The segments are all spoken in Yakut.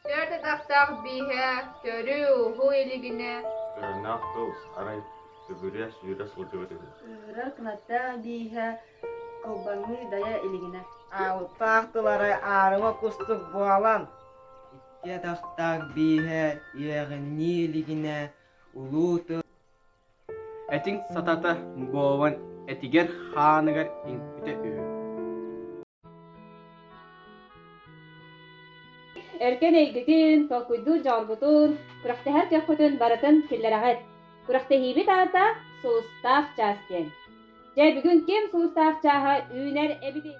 Түөрт атахтаах бииһэ төрүү-уһуу илигинэ Өрүнээх тылс, арай түбүрэ сүүрэ сылдьыбыт үһү. Ыырык Натаа бииһэ кылбаҥыы дайа илигинэ Аалпаах тылары аарыма кустук буолан Икки атахтаах бииһэ үөҕүннүү илигинэ улуу тыл Этиҥ сатата мугован этигэр хааныгар иҥпитэ үһү Өркөн эйгэтин, толкуйдуу дьоҕурбутун, күрэхтэһэр көхпүтүн барытын киллэрэҕит. Күрэхтэһиибит аата Сулустаах чаас диэн. Дьэ, бүгүн ким Сулустаах чааһа үүнэр эбитий?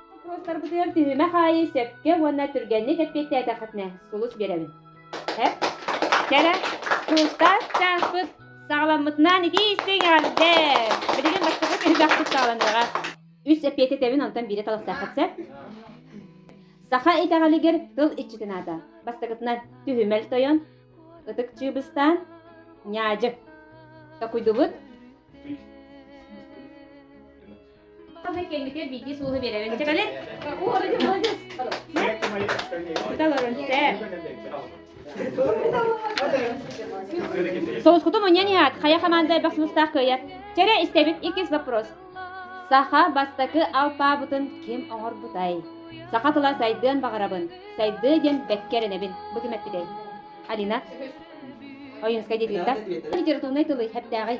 Боппуруостарбытыгар түһүмэх аайы сөпкө уонна түргэнник эппиэттээтэххитинэ сулус биэрэбин. Эп, кэрэ, тустас чааспыт саҕаламмытынан итии истиҥ эҕэрдэ! Билигин бастакы түһүмэх куттааланыаҕа. Үс эппиэтти тэбин, онтон биирэ талахтааххыт сөп. Саха итэҕэлигэр тыл иччитин аата. Бастакытынан түһүмэл тойон, ытык чыыбыстаан, ньаадьы. Токуйдубут. Кэнники биирдии сулуһу биэрэбин. Кэлин. Соускуту муньян иһат, хая хаманда эбэх сымыстаах кыйат. Чэрэ истэбит икис вопрос. Саха бастакы алпаабытын ким оҥорбутай? Саха тыла сайдыан баҕарабын. Сайдыы диэн бэккэрэнэбин. Бу ким эппитэй? Алина. Ойунскай диэтиттэ. Литературнай тылы хэптээҕи.